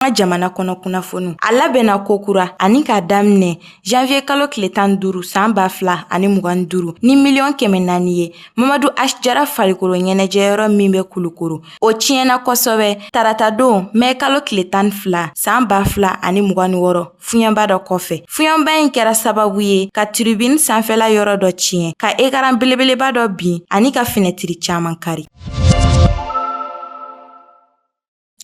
ka jamana kɔnɔ kunnafoni a labɛnna kokura ani k'a daminɛ janviye kalo tile tan duuru san ba fila ani mugan duuru ni miliyɔn kɛmɛ naani ye mamadu asi jara farikolo ɲɛnajɛyɔrɔ min bɛ kulukoro o tiɲɛna kosɛbɛ taratadon mɛ kalo tile tan fila san ba fila ani mugan ni wɔɔrɔ fiɲɛba dɔ kɔfɛ fiɲɛba in kɛra sababu ye ka tiribini sanfɛla yɔrɔ dɔ tiɲɛ ka ekaran belebeleba dɔ bin ani ka finɛtiri caaman kari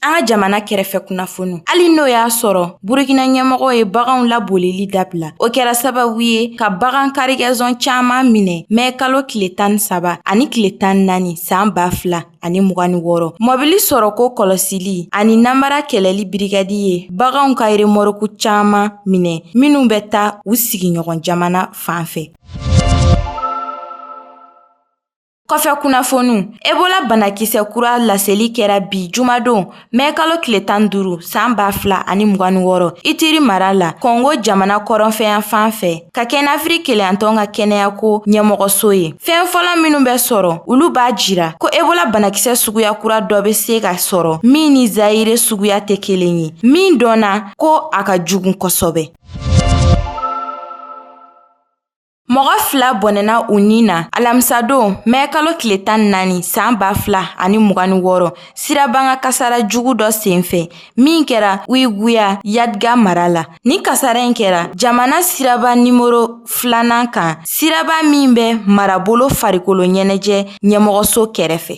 An ka jamana kɛrɛfɛ kunnafoni hali n'o y'a sɔrɔ burukina ɲɛmɔgɔw ye baganw labolili dabila o kɛra sababu ye ka bagan karigɛzɔn caman minɛ mɛ kalo tile tan saba ani tile tan naani san ba fila ani mugan ni wɔɔrɔ mɔbili sɔrɔko kɔlɔsili ani namara kɛlɛli birigadi ye baganw ka remɔrɔku caman minɛ minw bɛ taa u sigiɲɔgɔn jamana fan fɛ Kɔfɛ kunnafoniw Ebola banakisɛ kura laseli kɛra bi jumadon mɛ kalo tile tan duuru san ba fila ani mugan ni wɔɔrɔ Ituri mara la Kɔngo jamana kɔrɔnfɛyan fan fɛ ka kɛɲɛ n'Afiriki kelenyatɔn ka kɛnɛyako ɲɛmɔgɔso ye. Fɛn fɔlɔ minnu bɛ sɔrɔ olu b'a jira ko Ebola banakisɛ suguya kura dɔ bɛ se ka sɔrɔ min ni Zayire suguya tɛ kelen ye, min dɔnna ko a ka jugu kosɛbɛ. Mɔgɔ fila bɔnɛna u ni na alamisadon mɛ kalo tile tan naani san ba fila ani mugan ni wɔɔrɔ sirabakan kasara jugu dɔ senfɛ min kɛra wayiguya yadiga mara la nin kasara in kɛra jamana siraba nimɔrɔ filanan kan siraba min bɛ marabolo farikolo ɲɛnajɛ ɲɛmɔgɔso kɛrɛfɛ